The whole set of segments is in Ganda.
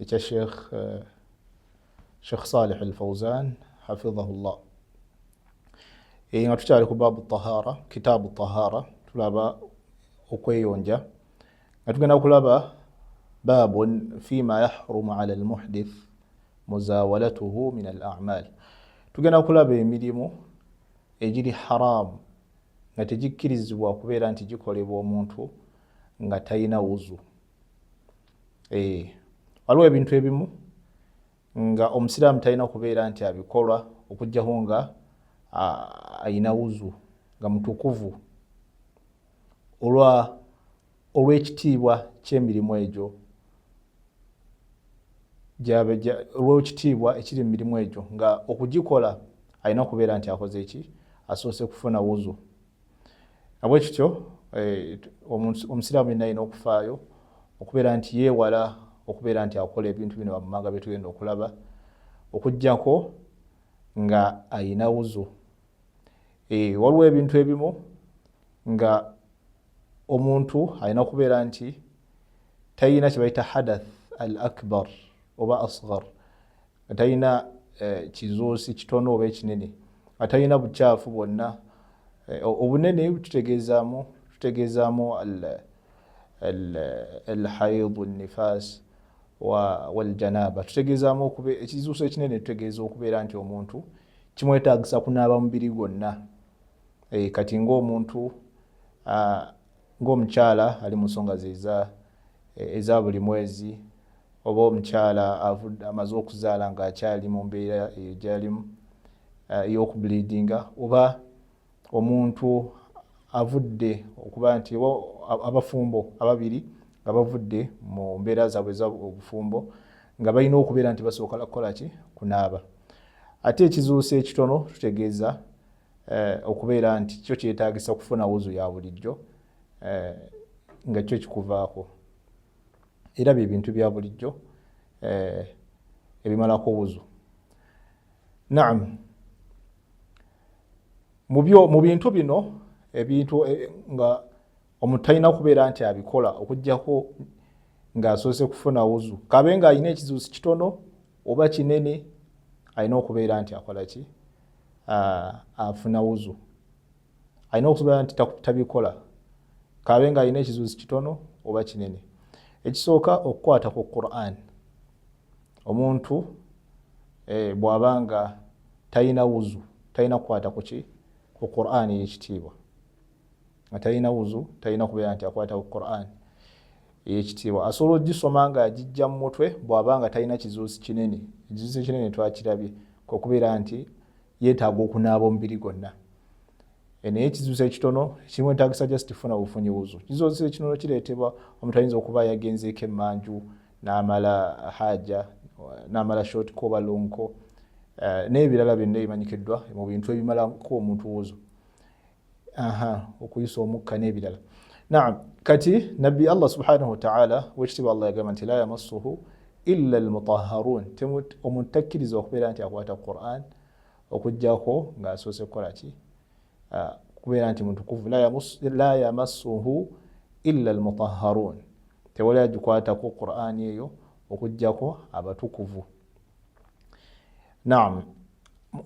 ekya sheikh eh, sheikh salih al fauzan hafizahu llah eh, nga tukyali ku baabu tahara kitaabu tahara tulaba okweyonja nga tugenda kulaba baabun fima yahrumu ala almuhdith muzawalatuhu min al amal tugenda kulaba emirimu egiri haramu nga tegikkirizibwa kubeera nti gikolebwa omuntu nga talina wuzu eh, waliwo ebintu ebimu nga omusiraamu talina kubeera nti abikolwa okugjaho nga ayina wuzu nga mutukuvu olwekitiibwa kyemirimu egyo olwekitiibwa ekiri mu mirimu egyo nga okugikola alina kubeera nti akoze eki asoose kufuna wuzu nabwe kityo eh, omusiraamu yenna yina okufaayo okubeera nti yeewala okubeera nti akola ebintu bino wammanga bye tugenda okulaba okugyako nga ayina wuzu eh, waliwo ebintu ebimu nga omuntu alina okubeera nti tayina kyebayita hadath al akbar oba asgar atalina eh, kizuusi kitono oba ekinene atalina bukyafu bwonna eh, obunene tutegeezaamu tutegeezaamu alhaidu nifas waljanaba tutegeezaamu ekizuusi ekinene tutegeeza okubeera nti omuntu kimwetagisa kunaaba mubiri gwonna eh, kati ngaomuntu ah, ng'omukyala ali mu nsonga ze eh, eza buli mwezi oba omukyala amaze okuzaala ng'akyali mu mbeera eyo gyalimu eh, ey'okubuliidinga oba omuntu avudde okuba nti abafumbo ababiri nga bavudde mu mbeera zaabwe eza obufumbo nga balina okubeera nti basooka kukola ki kunaaba ate ekizuuso ekitono tutegeeza eh, okubeera nti kyo kyetagisa okufuna wuzu ya bulijjo eh, nga kyo kikuvaako era bye bintu bya bulijjo eh, ebimalako wuzu naam mu bintu bino ebintu eh, nga omuntu talina kubeera nti abikola okugyako ng'asoose kufuna wuzu kabe ng'alina ekizibu si kitono oba kinene alina okubeera nti akola ki afuna wuzu alina okubeera nti tabikola kabe ng'alina ekizibu si kitono oba kinene ekisooka okukwata ku quran omuntu eh, bw'aba nga talina wuzu talina kukwata kuki ku quran yekitiibwa nga talina wuzu talina kubeera nti akwata ku quran eyekitiibwa asobola ogisoma nga agijja mu mutwe bwaba nga talina kizuusi kinene ekizuusi ekinene twakirabye kwokubeera nti yetaaga okunaaba omubiri gwonna eh, naye ekizuusi ekitono ekimu entagisa just funa bufunyi wuzu kizuusi ekinono kireetebwa omuntu ayinza okuba yagenzeeko emanju namala haja namala short koba lonko eh, nebirala byonna ebimanyikiddwa mu bintu ebimalako omuntu wuzu aha okuyisa omukka n'ebirala naam kati nabbi allah subhanahu wataala wekitiibwa allah yagamba nti la yamassuhu illa almutaharun omuntu takkiriza okubeera nti akwata quran okujjako ng'asoose kukola ki ah, kubeera nti mutukuvu la yamassuhu illa almutaharun tewali agikwatako qurani eyo okujjako abatukuvu naam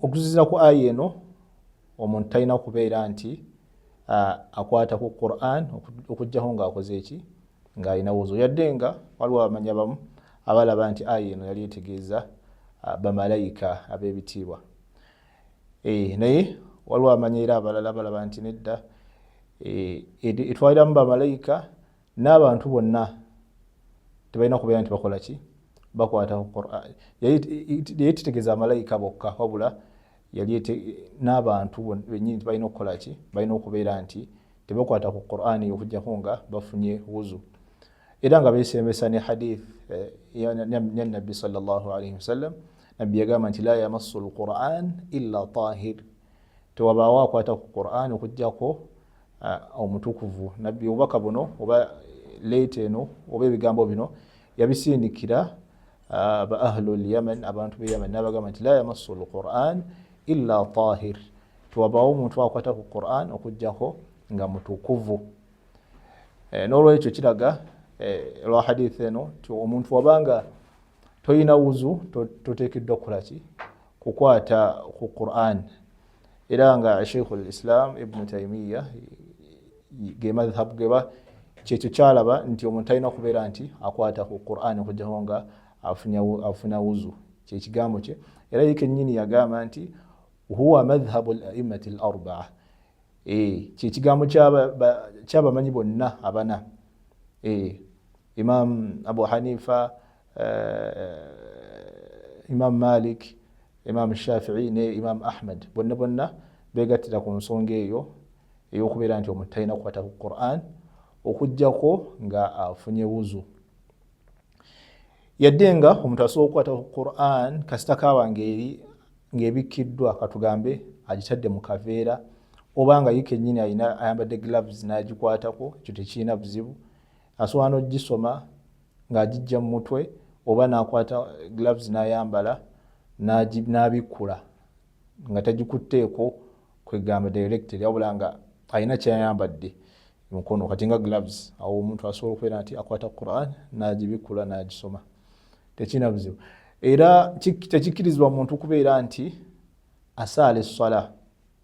okuzizira ku aya eno omuntu talina kubeera nti akwata ku quran okugjaho nga akoze eki nga alina wuzu yadde nga waliwo abamanya bamu abalaba nti aya eno yali etegeeza bamalayika abebitiibwa eh, naye waliwo amanya era abalala balaba nti nedda eh, etwaliramu bamalayika n'abantu bonna tebalina kubeera nti bakola ki bakwata ku qurani yali tetegeeza amalayika bokka wabula yali n'abantu benyini tibalina okukola ki balina okubeera nti tebakwata ku qurani okujjako nga bafunye wuzu era nga besembesa ne hadith eh, yanabbi salllahalaihi wasallam nabbi yagamba nti la yamassu lquran illa tahir tewabaawo akwata ku qurani okujjako Ah, omutukuvu nabbi obubaka buno oba leeta eno oba ebigambo bino yabisindikira ah, ba ahlu lyaman abantu be yaman nabagamba nti la yamassu lquran illa tahir tiwabawo omuntu akwata ku quran okujjako nga mutukuvu eh, nolwekyo kiraga eh, lwa hadith eno ti omuntu wabanga toyina wuzu totekeddwa kukolaki kukwata ku quran era nga sheikhu lislam ibnu taimiya gemadhabu geba kyekyo kyalaba nti omuntu alina okubeera nti akwata ku quran okujjaho nga afuna wuzu kyekigambo kye era ye kenyini yagamba nti huwa madhhabu laimati larbaa e, kyekigambo kyabamanyi bonna abana e, imam abu hanifa imam malik imam shafii ne imam ahmed bonna bonna begattira ku nsonga eyo eyokubeera nti omuntu talina kukwata ku quran okugjako nga afunye wuzu yadde nga omuntu asobola okukwata ku quran kasita kaba ngeri ngaebikkiddwa katugambe agitadde mu kaveera oba nga ye kenyini ayambadde gloves nagikwatako ekyo tekirina buzibu asobola n'ogisoma ng'agijja mu mutwe oba n'akwata gloves n'ayambala n'abikkula nga tagikutteeko kwegamba directly wabula nga alina kyayambadde mukono kati nga gloves awo omuntu asobola okubeera nti akwata quran n'agibikkula n'agisoma tekirina buzibu era tekikkirizibwa muntu kubeera nti asaala esswala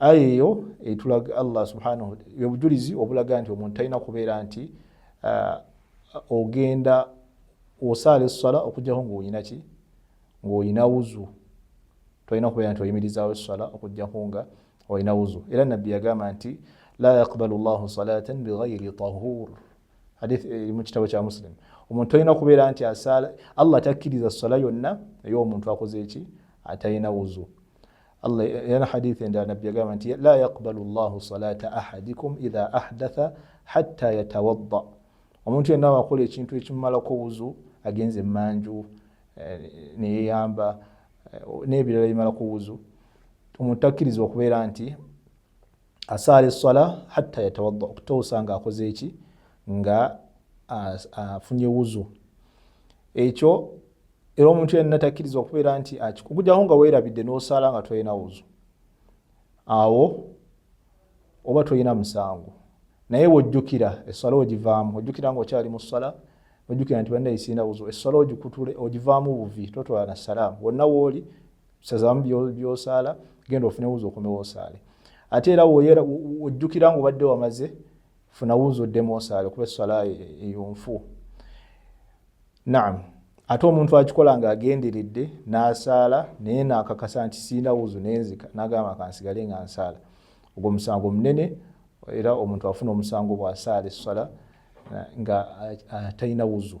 aya eyo etulaga allah subhanahu obujulizi obulaga nti omuntu talina kubeera nti uh, ogenda osaala esswala okujjako ngaolina ki ngaolina wuzu tolina kubeera nti oyimirizawo esswala okujjako nga olina wuzu era nabbi yagamba nti la yaqbalu llahu salatan bighairi tahur hadith eri eh, mu kitabo kya muslim omuntu tolina kubeera nti asaala allah takkiriza esswala yonna ey'omuntu akoze eki atalina wuzu Allah yana hadithi nda nabbi agamba nti la yaqbalu llahu salata ahadikum idha ahdatha hatta yatawadda omuntu yenna wakola ekintu ekimumalako wuzu agenze emanju eh, neyeyamba eh, nebirala bimalako wuzu omuntu takkirizibwa okubeera nti asaala esswala hatta yatawadda okutuusa nga akoze eki nga afunye wuzu ekyo era omuntu yenna takkiriza okubeera nti akikugujaho nga weerabidde n'osaala nga tolina wuzu awo oba tolina musango naye wojjukira esswala ogivaamu ojjukira nga okyali mu sswala ojjukira nti banna isina wuzu esswala ogikutule ogivaamu buvi totwala na salaamu wonna wooli sazamu byosaala genda ofune wuuza okomewo osaale ate era ojjukira nga obadde wamaze funa wuuza oddemu osaale kuba eswala eyonfu naam ate omuntu akikola nga agenderedde n'asaala naye nakakasa nti siina wuzu nenzika nagamba kansigale nga nsaala ogwo omusango munene era omuntu afuna omusango bwasaala esswala nga atalina wuzu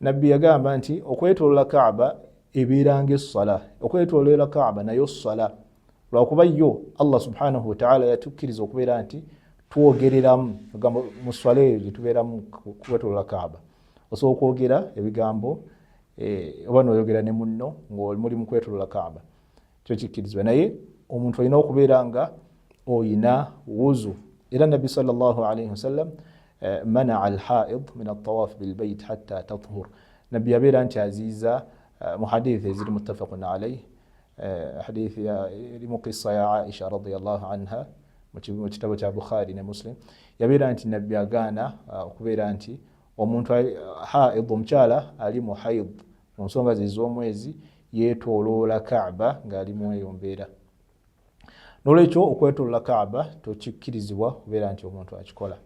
nabbi yagamba nti okwetolola kaaba ebeeranga essala okwetolola kaaba nayo ssala lwakuba yo allah subhanahu wataala yatukkiriza okubeera nti twogereramu egambo mu sswala eyo gyetubeeramu kukwetolola kaaba osobola okwogera ebigambo eh, oba noyogera ne munno ngaoli muli mukwetolola kaaba kyo kikkirizibwa naye omuntu olina okubeera nga oyina wuzu era nabbi salllah alaihi wasallam eh, manaa alhaid min altawaf bilbait hatta tathur nabbi yabeera nti aziiza eh, mu hadithi eziri muttafaqun alaihi eh, hadithi eri mu kissa ya aisha radiallah anha mu kitabo kya bukhari ne muslim yabeera nti nabbi agaana okubeera nti omuntu haid omukyala ali mu haid mu nsonga ze z'omwezi yeetooloola kaaba ng'ali mu eyo mbeera n'olwekyo okwetoolola kaaba tokikkirizibwa kubeera nti omuntu akikola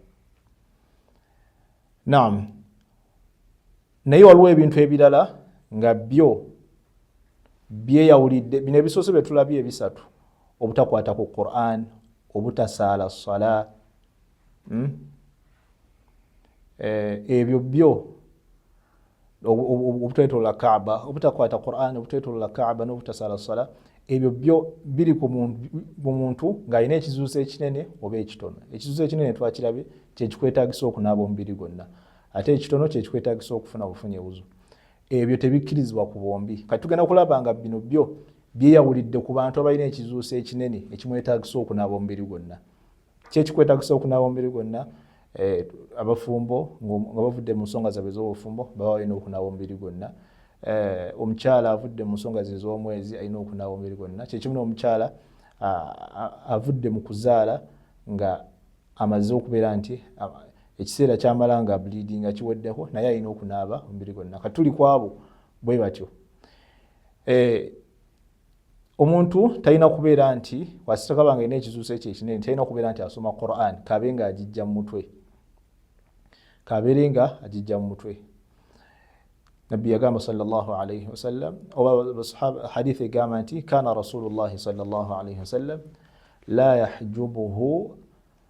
naam naye waliwo ebintu ebirala nga byo byeyawulidde bino ebisoose bye tulabye ebisatu obutakwata ku quran obutasaala sala hmm? eh, ebyo byo obutwetolola kaaba obutakwata quran obutwetolola kaaba n'obutasala sala ebyo byo biri ku muntu ng'alina ekizuuso ekinene oba ekitono ekizuuso ekinene twakirabe kyekikwetagisa okunaaba omubiri gwonna ate ekitono kyekikwetagisa okufuna bufunye buzu ebyo tebikkirizibwa ku bombi kati tugenda kulaba nga bino byo byeyawulidde ku bantu abalina ekizuuso ekinene ekimwetagisa okunaaba omubiri gwonna kyekikwetagisa okunaba omubiri gwonna eh, abafumbo nga bavudde mu nsonga zabwe ez'obufumbo baba balina okunaba omubiri gwonna eh, omukyala avudde mu nsonga ze ez'omwezi alina okunaba omubiri gwonna kyekimu n'omukyala avudde mu kuzaala nga amaze okubeera nti ekiseera kyamala nga bleedi nga kiweddeko naye alina okunaaba omubiri gwonna katuli kwabo bwe batyo eh, omuntu talina kubeera nti wasitakaba nga ina ekizuuso ekyo ekinene talina kubeera nti asoma quran kabe nga agijja mu mutwe kabeere nga agijja mu mutwe nabbi yagamba salllahalaihi wasallam oba hadith egamba nti kana rasulullahi salllahalaihi wasallam la yahjubuhu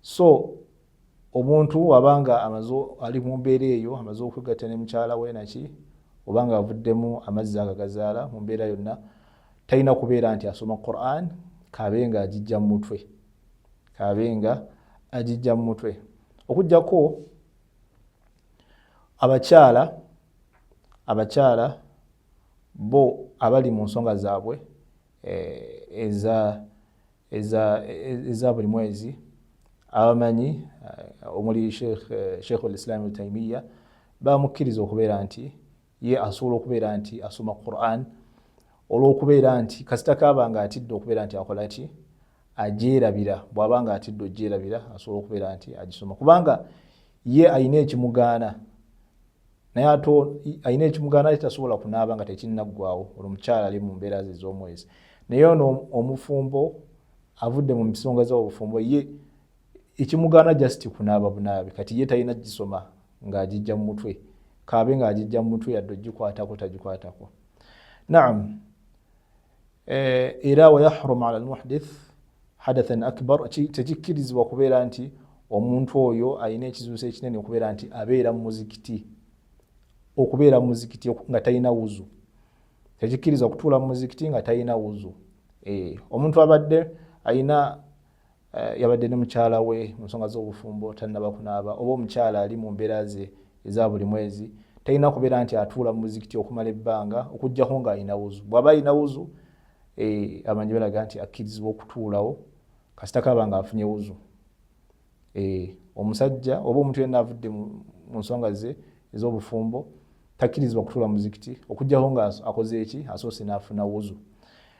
so omuntu wabanga amaze ali mu mbeera eyo amaze okwegatta ne mukyala we naki obanga avuddemu amazzi agagazaala mu mbeera yonna talina kubeera nti asoma quran kaabe nga agijja mu mutwe kaabe nga agijja mu mutwe okujjako abakyala abakyala bo abali mu nsonga zaabwe eh, eza eza buli mwezi abamanyi eh, omuli sheikh olislam eh, taimiya bamukkiriza okubeera nti ye asobola okubeera nti asoma quran olwokubeera nti kasita kaaba nga atidde okubeera nti akola ki ajerabira bwaba nga atidde ojerabira asobola okubeera nti agisoma kubanga ye alina ekimugaana naye ate alina ekimugaana ate tasobola kunaaba nga tekinnaggwawo olwo omukyala ali mu mbeera ze ez'omwezi naye ono omufumbo avudde mu misonga z'obufumbo ye ekimugaana just kunaaba bunaabi kati ye talina gisoma ng'agijja mu mutwe kaabe ng'agijja mu mutwe yadde ogikwatako tagikwatako naam Eh, era wayahrum ala lmuhdith hadathan akbar tekikkirizibwa kubeera nti omuntu oyo alina ekizuuso ekinene okubeera nti abeera mumuzikiti okubeera mumuzikiti nga talina wuzu tekikkirizibwa kutuula mumuzikiti nga talina wuzu eh, omuntu abadde alina Eh, yabadde ne mukyala we mu nsonga z'obufumbo tannaba kunaaba oba omukyala ali mu mbeera ze eza buli mwezi talina kubeera nti atuula mu muzikiti okumala ebbanga okuggyako ng'alina wuzu bw'aba alina wuzu eh, amanyi balaga nti akkirizibwa okutuulawo kasita kaaba ng'afunye wuzu eh, omusajja oba omuntu yenna avudde mu nsonga ze ez'obufumbo takkirizibwa kutuula muzikiti okuggyako ng'akoze eki asoose n'afuna wuzu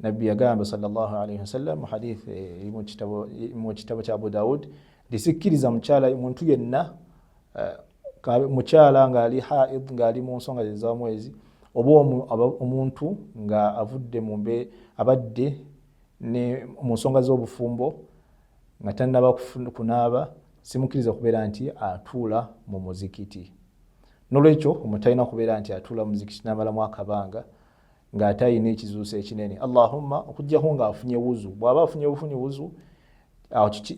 nabbi yagamba salllah alaihi wasallam mu hadith mu kitabo kya abu daud nti sikkiriza mukyala muntu yenna mukyala ngaali haid ngaali mu nsonga zezamwezi oba omuntu nga avudde mumbe abadde mu nsonga z'obufumbo nga tanaba kunaaba simukkiriza kubeera nti atuula mu muzikiti nolwekyo omutalina kubeera nti atuula muzikiti namalamu akabanga nga ate ayina ekizuuso ekinene allahumma okujjako nga afunye wuzu bwaba afunye bufunyi wuzu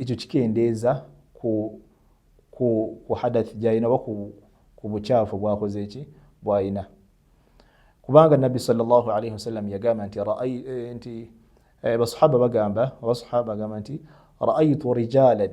ekyo kikendeeza ku hadath gyalina oba ku bukyafu bwakoze eki bwalina kubanga nabbi salllah alaihi wasallam yagamba nti eh, nti eh, basahaba bagamba abasahaba bagamba nti raaitu rijalan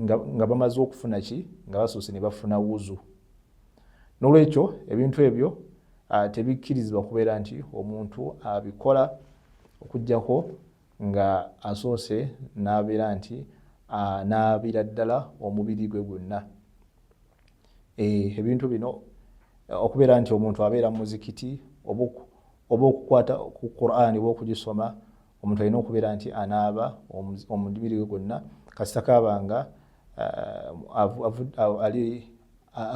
nga, nga bamaze okufuna ki nga basoose ne bafuna wuzu nolwekyo ebintu ebyo uh, tebikkirizibwa kubeera nti omuntu abikola uh, okugyako nga asoose n'abeera nti anaabira ddala omubiri gwe gwonna eh, ebintu bino okubeera nti omuntu abeera mu muzikiti oba okukwata ku qurani oba okugisoma omuntu alina okubeera nti anaaba omubiri we gwonna kasita kaaba nga uh,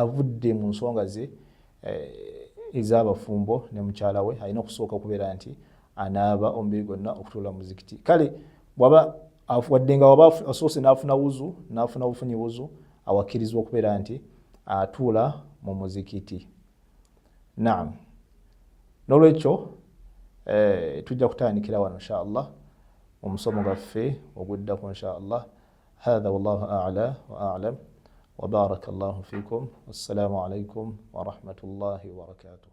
avudde mu nsonga ze eh, ez'abafumbo ne mukyala we alina okusooka okubeera nti anaaba omubiri gwonna okutuula muzikiti kale waba wadde nga waba asoose n'afuna wuzu n'afuna bufunyi wuzu awakkirizibwa okubeera nti atuula mu muzikiti Naam, n'olwekyo eh, tujja kutandikira wano insha allah mu musomo gwaffe oguddako insha allah. Hadha wallahu a'la wa a'lam wa baraka llahu fikum. Wassalamu alaikum wa rahmatullahi wa barakatuh.